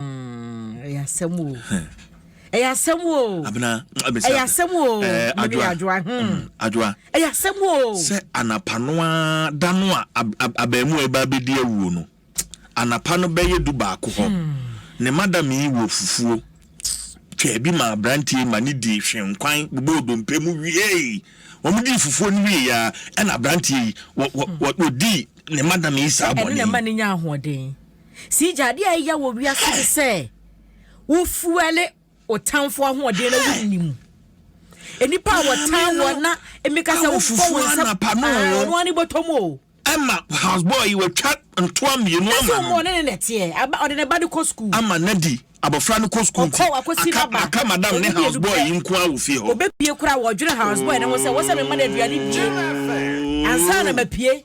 ɛyɛ asɛm o ɛyɛ asɛm o abena abesa ɛyɛ asɛm o adwoa adwoa adwoa ɛyɛ asɛm o sɛ anapa no a da no a abɛɛmu a ɛba abɛdi awuo no anapa no bɛyɛ du baako hɔ ne madam yi wɔ fufuo twaa bi ma aberanteɛ ma ne di hwenkwan bobɔ odompe mu wiei wɔn di fufuo no wie ya ɛna aberanteɛ yi wɔ wɔ wɔ di ne madam yi saa bɔnne ɛne na ma ne nya ahoɔden. Sigya, adeɛ a ɛyɛ wɔ wiase ne sɛ wofuɛle wo tamfo ahoɔden na wonni mu. Nnipa a wɔtan wɔ na mmeka sɛ wobɔ wo nsɛm ɔno ane bɔtɔ mu o. Ɛma houseboy yi wɔatwa ntoa mmienu ama no. Ɛsɛ ɔmo ɔne ne nɛteɛ, ɔde ne ba no kɔ sukuu. Ama Nadi abɔfra no kɔ sukuu nti, aka madam ne houseboy yi nko ara wɔ fie hɔ. Ɔbɛpie koraa wɔdwene houseboy no ho sɛ wɔsɛ memma no aduane die ansa na mapie.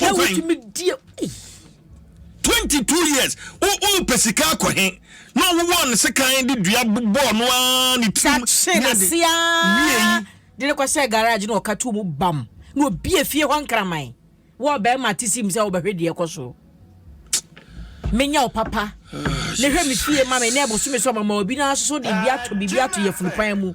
na wotumi die ei. twenty two years wo wo pɛ sika akɔ he na ɔwowɔ ne sekan de dua bɔɔ no ara ne tirim kye ne ade n'ase wie aa yi de ne kɔhyɛ garage na ɔka too mu bam na obie fie hɔ nkraman wɔ ɔbarima te sim sɛ wobɛhwɛ deɛ ɛkɔ so menya wo papa na hwɛ me fie ma me na ɛbosome so mama obi no asoso de bi ato biribi ato yɛ funupaa mu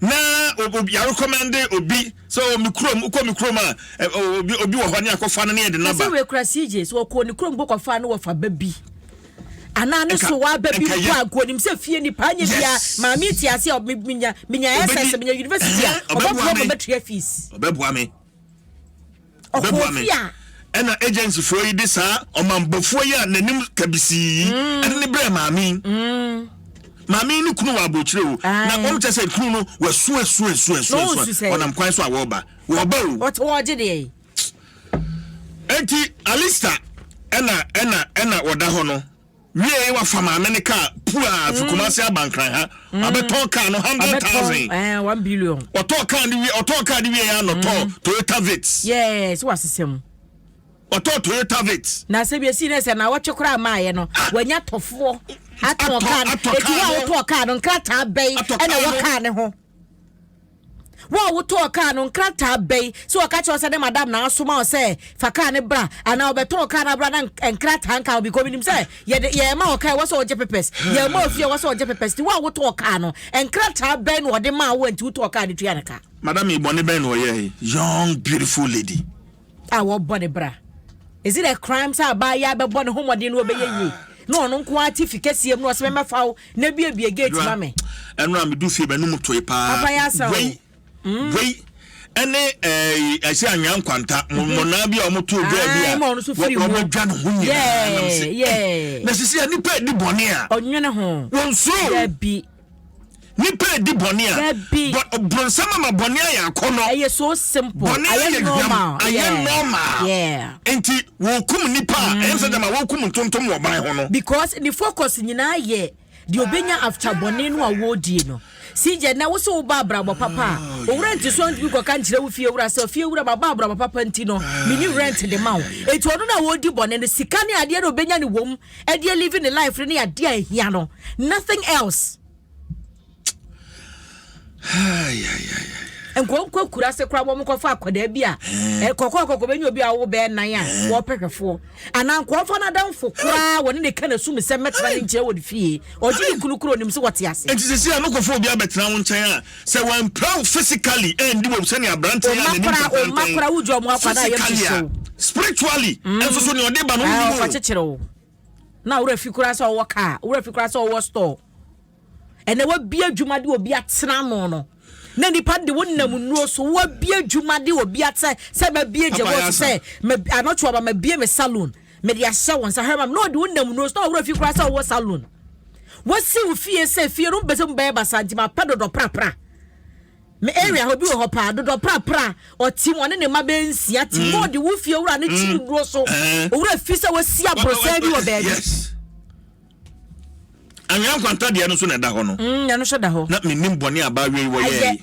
na yɛarekɔmɛnde obi sɛ ɔwɔ me kurom wokɔ me kurom a obi wɔ hɔ ne akɔfa no ne yɛde naba sɛ wekura sigye sɛ wɔkɔɔ ne kurom bɔkɔfa no wɔfa ba bi anaa ne so waba bi mpo a nkonim sɛ fie nipa anyɛ bia maame te ase a menya menya ɛsɛ sɛ menya university a ɔbɛboa me bɛtua fees ɔbɛboa me bɛboa me ɛna agencyfoɔ yi de saa ɔmambɔfoɔ yi a n'anim kabisii yi mm. ɛde ne brɛ maame yi mm. maame yi ne kunu wɔ abɔkyerɛ o na wɔn kyɛ sɛ kunu no wɔasuasuasuasuasuasua wɔnam kwan so a wɔreba wɔreba o wɔgye deɛ yi eti alista ɛna ɛna ɛna wɔda hɔ no Wiei wafa maame no kaa puaa fi Kumasi aba Nkran ha. Wabɛtɔn kaa no hundred Wabɛtɔn thousand. ɛɛ one billion. Ɔtɔɔ kaa no wie ɔtɔɔ kaa no wieeɛ a na ɔtɔɔ Toyota Vitz. Yɛɛ sɛ wasesa mu. Ɔtɔɔ Toyota Vitz. Na asɛm yɛsii no sɛ naawɔtwe koraa maaeɛ no Ah! wanya tɔfoɔ atɔn Atɔ- kaa no. atɔ Enti kaa wo a no. wotɔɔ kaa no nkrataa bɛn Atɔ ɛna kaa ɛwɔ no. kaa no ho? Wo a wotɔɔ kaa no, nkrataa bɛn? Sɛ wɔka kyerɛ wo sɛ ne madam na asoma wo sɛ fa kaa no bra anaa wɔbɛtɔn kaa no abra na nkrataa nka ho because menim sɛ yɛde yɛma wɔ kaa ɛwɔ sɛ wɔgye papers yɛma ofie ɛwɔ sɛ wɔgye papers nti wo a wotɔɔ kaa no nkrataa bɛn na wɔde maa wo a nti wotɔɔ kaa no tua no ka. Madam yi bɔne bɛn na ɔyɛe? Young beautiful lady. a wɔbɔ ne bra is it a crime sɛ abaayewa bɛbɔ ne ho mmɔden na ɔbɛyɛ yie na ɔno nko ara te fi kɛseɛ mu na ɔsɛ mɛmɛfa wo na biabia gate ma me ɛno a medu fie bɛnum toe paa papa yɛ asa wei hmm. wei ɛne ɛsɛ eh, anwea nkwanta mhm. mɔnaa bi a wɔto dwa bi a wɔbɛdwa no ho nyinaa na sisi a nipa di bɔne a wɔnsoro Nipa edi bɔne a, but bronsam ama bɔne ayɛ akɔnɔ. Ɛyɛ so simple. Bɔne ayɛ normal. Ayɛ normal. Yeah. Nti wɔkum nipa a, ɛyɛ sɛ dɛm a wɔkum ntontom wɔ ban ho no. Because ne focus nyinaa yɛ deɛ obenya after bɔne no a wɔredie no. Sigya na wosɛ woba abrabɔ papa a ah, owura nti so ntumi kɔka nkyerɛ wo fie wura sɛ fie wura ma ba abrabɔ papa nti no mini rent de ma wo eti ɔno na wɔredi bɔne no sika ne adeɛ na obenya ne wɔm ɛde alive ne life no ne adeɛ a ɛhia no nothing else nkɔnkɔ akura ase koraa wɔn kɔfa akwadaa bi a kɔkɔ kɔkɔ bɛnya obi a wɔwɔ bɛɛ nan a wɔpɛ hwɛfoɔ anaa nkɔɔfa no adamfo koraa wɔne ne ka na sum sɛ mɛtena ne nkyɛn wɔ ne fie ɔgye ne kunu kuro nim sɛ wɔte ase. nti sisi a no kɔfa obi abɛtena wɔn nkyɛn a Sɛ wɔampira wo physically ɛndi wɔ sɛnea aberanteɛ yɛ a n'anim pɛmpɛmpɛn physically a spiritually mm. nso so nea ɔde ba no wo nim o. ɔfa kyekyere wo na wura fi koraa sɛ ɔwɔ kaa wura fi koraa sɛ ɔwɔ store ɛnna wabie adwuma de obi atena ano no na nipa de wo nam nnuro so wabie adwuma de obi atena sɛ mabie gyebo sɛ anɔtwe aba mabie me salon. mede ahyɛ wo nsa herman na ɔde wo nam nose na ɔworɔ fi koraa sɛ wowɔ salon wɔsi wo fie sɛ fie no mpɛ sɛ mu bɛyɛ basa nti mapɛ dodɔ prapra me area hɔ bi wɔ hɔ paa dodɔ prapra ɔtim ɔne ne mma bɛyɛ nsia tim mm. na ɔde wo fie wura ne mm. kyiri nnuro so eh. owura fi sɛ wasi aborɔsɛn bi wɔ baabi anwea nkwanta deɛ no so na ɛda hɔ no mm, ɛno so da hɔ na menim bɔne a baawie wɔyɛɛ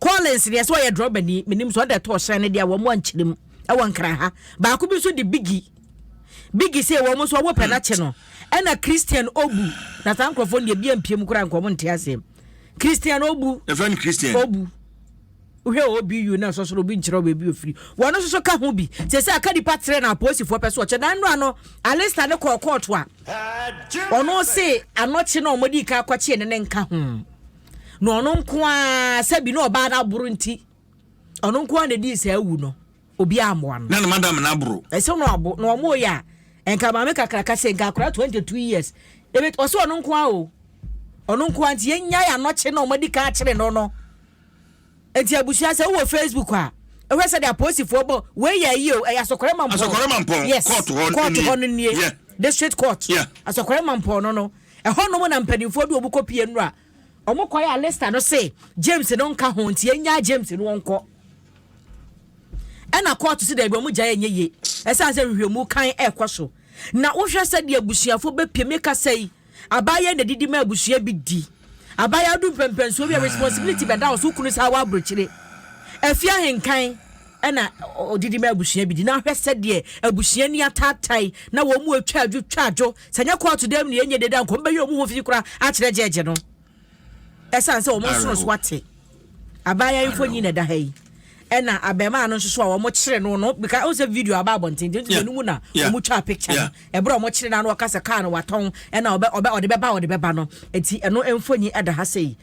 Collins deɛ sɛ ɔyɛ drɔba ni menim sɛ ɔde ɛtɔ ɔhyɛn no deɛ wɔn mu ankyerɛ mu ɛwɔ nkran ha baako bi nso de bigi bigi sɛ wɔn nso ɔwɔ pɛn akyɛ no ɛna Christian Obu na saa nkorɔfoɔ deɛ bia mpiem koraa nkɔm nte aseɛ Christian Obu ɛfɛn Christian Obu wohwɛ OBU na sɔsoro obi nkyerɛ baabi ofiri wɔn nso so ka ho bi sɛ sɛ aka nipa tere na apolisifoɔ pɛ so ɔkyɛ na nnora no Alista ne kɔɔ kɔɔto a ɔno se anɔkye na wɔde ika akɔkye ne ne nka ho. na ɔno nko ara sɛ bi na ɔbaa no aboro nti ɔno nko ara na ɛdii saa awu no obi ammoa no na ne madam no aboro ɛsɛ no abo na ɔmo yɛ a nka maame kakraka sɛ nka akora 22 years ɛbɛt ɔsɛ ɔno nko ara o ɔno nko ara nti yɛnyae anɔkye na ɔmadi ka akyere no no Enti abusua sɛ wowɔ Facebook a ɛhwɛ sɛdeɛ apolisifoɔ bɔ wei yɛ ayi o ɛyɛ asɔkɔrɛ mampɔn asɔkɔrɛ mampɔn yes kɔɔto hɔ kɔɔto hɔ no nie yeah. district court yeah. asɔkɔrɛ mampɔn no no ɛhɔ nom na mpanimfoɔ de wɔn kɔ pie nnura wɔn kɔ yɛ alista no se James no nka ho nti ɛnya James no wɔn kɔ ɛna kɔɔto si dɛbi wɔn gya yɛ nye yie ɛsan sɛ nhwehwɛmu kan ɛkɔ so na wohwɛ sɛ deɛ abusuafoɔ bɛpie meka sɛ yi Abayɛ na didi ma abusua bi di. Abayɛ adu mpɛnpɛnsoɔ bi a responsibility bɛda wo so, wo kunu saa wɔ aburokyire. Afie ahenkan na ɔdidi ma abusua bi di. Na hwɛ sɛdeɛ abusua ni ataatae na wɔn mu atwa adwo twa adwo. Sɛ nyɛ kɔɔto dam ne ɛnyɛ deda nka wɔn bɛyɛ wɔn ho fi koraa akyerɛ gyɛɛgye no. Ɛsiane sɛ wɔn nsonosoɔ ate abaayewa mfoni na ɛda ha yi ɛna abɛɛmaa no nso so a wɔn kyerɛ no no bika ɔn sɛ video aba abɔnten nti nti mu na wɔn twa picture no ɛbrɛ wɔn kyerɛ no ano ɔka sɛ kaa no watɔn ɛna ɔbɛ ɔbɛ ɔde bɛba ɔde bɛba no nti ɛno mfoni ɛda ha sɛ yi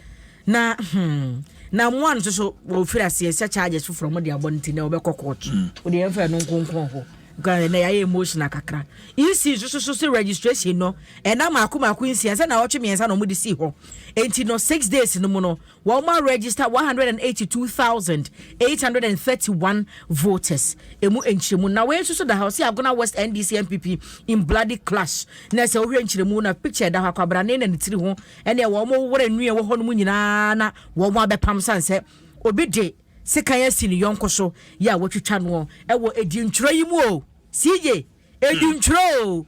na hmm na mmoa no nso so wɔfiri aseɛ sɛ charges foforɔ wɔn de abɔ no nti na wɔbɛkɔ court wɔde hmm. yɛn fɛ no nkonkron hɔ. Nka ɛnɛ yɛayɛ emotional kakra. EC nso so so se registration no ɛna mako mako nsia sɛ na ɔtwe mmiɛnsa na wɔn de sii hɔ. Enti no six days no mu no wɔn a register one hundred and eighty two thousand eight hundred and thirty one voters emu nkyerɛmu na wei nso so da hɔ sɛ Agona West NDC MPP in bloody clash na sɛ wohwɛ nkyerɛmu na picture da hɔ akwabrane na ne tiri ho ɛne wɔn wɔn wura nnua wɔ hɔ no mu nyinaa na wɔn abɛpam san sɛ obi de sekan asi ne yɔnko so yɛ a watwitwa noɔ wɔ adintwerɛ yi mu o. CJ, adintwerɛ o.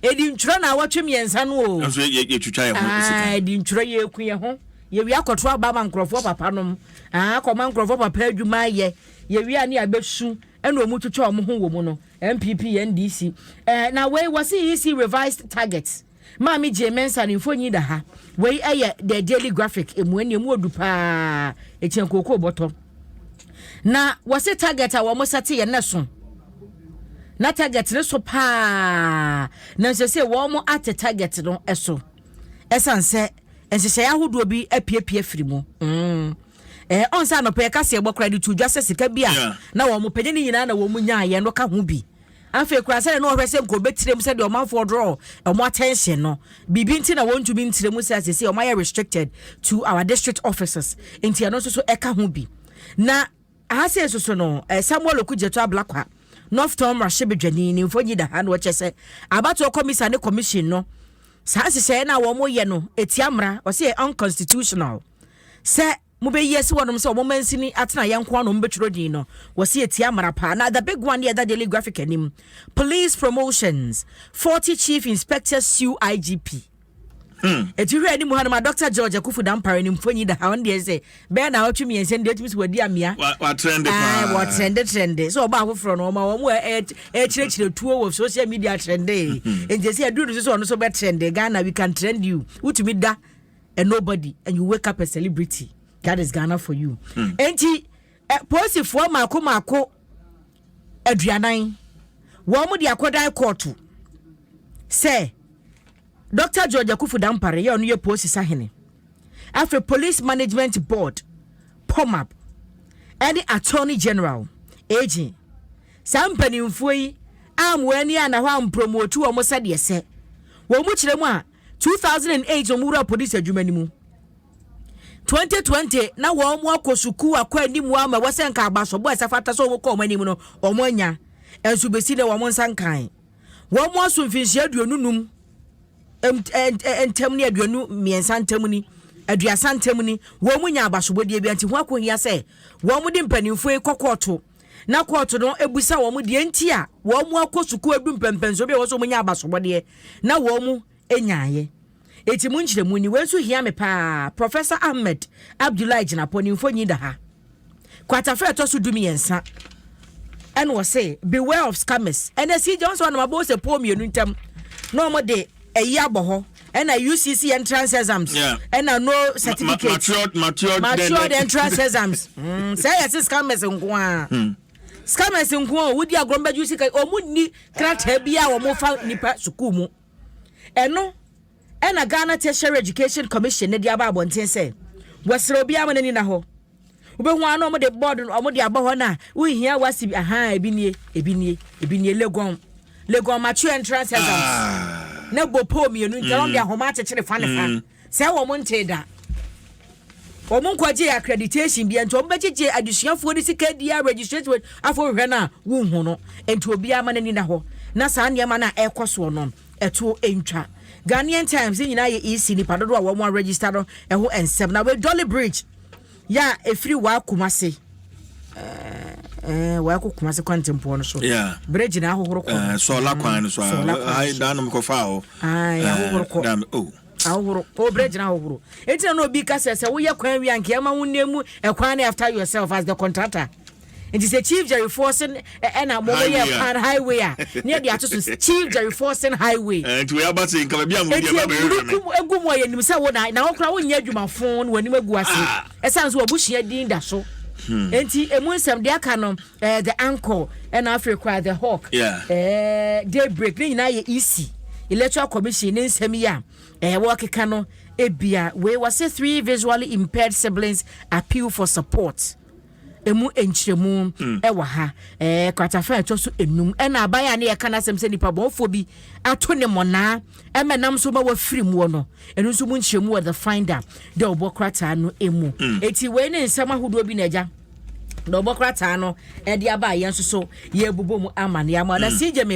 Adintwerɛ na awɔtwe mmiɛnsa no o. Nanso yɛ yɛtwitwa yɛn ho sekan. Ah, adintwerɛ yɛku yɛn ho. Yɛwie akɔto aba ma nkurɔfoɔ papa nom. Ah, akɔma nkurɔfoɔ papa adwuma ayɛ. Yɛwie a ne abɛsu ɛna ɔmu twitwa ɔmo ho wɔ mu no. NPP, NDC. Eh, na wei wɔsi EC revised target. Maame Gyee Mensah no mfonyin da ha. Wei yɛ The Daily Graphic mmuae no, emu wɔ du paa, ekyian kookoo bɔtɔ. Na wɔse target a wɔn sɛte yɛ nɛ so. Na target no so paa, nanso sɛ wɔn ate target no so. Ɛsan sɛ nhyehyɛe ahodoɔ bi apiapia afiri mu. Mm. Eh, ɔnsa anɔpɛ yɛka sɛ yɛbɔ koraa de tu dwa sɛ sika bi a na wɔn pɛ ne ne nyinaa na wɔn nyaayɛ no ka ho bi. Afei koraa, sɛdeɛ na wɔhwɛ sɛ nka wɔbɛtire mu, sɛdeɛ ɔmanfoɔ draw wɔn attention no, biribi nti na wɔntumi ntire mu sɛ a seesei wɔayɛ restricted to our district offices, nti ɛno nso so ɛka ho bi. Na aha sei nso so no, eh, Samuel Okudzeto Ablakwa, Northtown mmarahyɛbadwani, ne mfonyi da ha na wɔkyɛ sɛ abatoɔ kɔmisa ne commission no, saa nhyehyɛeɛ no a wɔyɛ no ɛtia mmara, wɔsɛ yɛ unconstitutional sɛ mobeyi asi hɔnom sɛ wɔmansini atenaeɛ nko ara na wɔbɛtwerɛ din no, wɔsi etia mmara paa. Na the big one yɛ ɛda Daily Graphic anim, police promotions, 40 chief inspectors sue IGP. Hmm. Eti hwɛ anim ha no ma Dr. George Akufu Dampare ne mfonyi da ha ɔno deɛ sɛ bɛyɛ na ɔtwe mmiɛnsa no deɛ ɔtumi sɛ wadi amea. Watrɛnde paa. Wɔtrɛnde trɛnde sɛ ɔba afoforɔ no ɔma wɔn ɛkyerɛkyerɛ tuo wɔ social media trɛnde. Hmm. Nti sɛ aduru no so sɛ ɔno so bɛtrɛnde Ghana we can trend you wotumi da a nobody and you wake up a celebrity that is ghana for you hmm. enti eh, polisifoɔ mako mako aduanan wɔn de akɔdan kɔɔto sɛ dr george akufu dampare yɛ ɔno yɛ polisi sahene afei police management board pomap ɛne attorney general agent saa mpanimfoɔ yi ammoa ani a na hɔ ampromotu wɔn sɛdeɛ sɛ wɔn mu kyerɛ mu a two thousand and eight wɔn wura polisi adwuma no mu twenty twenty na wɔn mo akɔ sukuu akɔ anim wɔn ama wɔsɛ nka abasobɔ ɛsɛ fata sɛ wɔn kɔ wɔn anim no wɔn anya nso besi na wɔn nsa nkan wɔn mo aso mfinhyia aduonu num ntam ne aduonu mmiɛnsa ntam ni aduasa ntam ni wɔn mo nya abasobɔ deɛ bi nti ho akɔhia sɛ wɔn mo de mpanimfoɔ yi kɔ kɔɔto. na kɔɔto no bisa wɔn deɛ nti a wɔn akɔ sukuu adu mpɛmpɛnsoɔ bi a ɛwɔ sɛ wɔnya abasobɔdeɛ na wɔnyaeɛ. Enti mo nkyerɛmu ni. Wei nso hia me paa. Professor Ahmed Abdullahi Gyinapɔ, ne mfoni da ha. Kwatafa ɛtɔ so dumiɛnsa ɛna ɔse beware of scammers. Ɛnɛ si gya wɔn sɛ wɔnam abɔ sɛ pɔɔ mmienu ntam na wɔde ɛyi abɔ hɔ. ɛna ucc entrance exams yeah. ɛna no certificate ma, ma, matured, matured, matured then, entrance exams mm, sɛ yɛ se scammers nko a hmm. scammers nko a wodi agorɔ mbɛgye sika ɔmo nni krataa bi a wɔn fa nipa sukuu mu ɛno ɛna ghana tertiary education commission ne de aba abɔnten sɛ wɔsrɛ obiara ma n'ani na hɔ. wobɛhu ara na wɔde bɔɔdo no wɔde abɔ hɔ no a wohia wasi bi ahaa ebi nie ebi nie ebi nie legon legon mature entrance exams ah. na bɔ poo mmienu nti wɔn de mm. ahoma akyekyere fa ne fa mm. sɛ wɔn nte da wɔn nkɔgye accreditation bi nti wɔn bɛgyegye adesuafoɔ de sika di a registration afɔ hwɛ no a wohu no nti obiara ma n'ani da hɔ na saa nneɛma no a ɛrekɔ soɔ no ɛtoɔ ntwa ghanaian times ne nyinaa yɛ ec nipa dodoɔ a wɔn aregister no ɛho nsɛm na wei dolly bridge Yɛ a ɛfiri waa Kumase waa kɔ Kumase kwantempɔn no so. Berɛ gyina ahohoro kɔ. Sɔɔla kwan no so a. Sɔɔla kwan no so. Daa nom kɔfaa hɔ. Ahohoro kɔ. Daa mi o. Ahohoro. O berɛ gyina ahohoro. Eti na obi ka sɛ sɛ woyɛ kwan wie anka ɛma wo nne mu ɛkwan no after yourself as the contractor. nti sɛ chief jerry forsen ɛna eh, mo mo yɛ pan highway a ne yɛde ato so chief jerry forsen highway. Eh, nti wei aba se nkama bi a mo di ɛba bɛyɛ hwɛ mi. eti egu mu a yɛnim sɛ wo na na wɔkora wonyɛ adwuma fon na wɔnim agu ase ah. ɛsan so wɔabusua din da so. Hmm. nti emu nsɛm de aka no ɛɛ eh, the anchor ɛna afei kora the hawk ɛɛ day break ne nyinaa yɛ ec electoral commission ne nsɛm yi a ɛɛ wɔkeka no ebia wei wɔsɛ three visually impaired siblings appeal for support. ɛmu nkyerɛmu mm. ɛwɔ ha ɛɛ eh, kratafa ɛtɔ so enum ɛna aban a ne yɛka n'asɛm sɛ nipa bɔnfoɔ bi ato ne mɔnaa ɛmɛ nam so ma wafiri mu no ɛno nso mu nkyerɛmu wɔ the finder dɛ ɔbɔ krataa no emu mm. eti wei ne nsɛm ahodoɔ bi na ɛgya na ɔbɔ krataa no ɛde aba a yɛn nso so yɛbobɔ mu ama ne ama na mm. si gyeme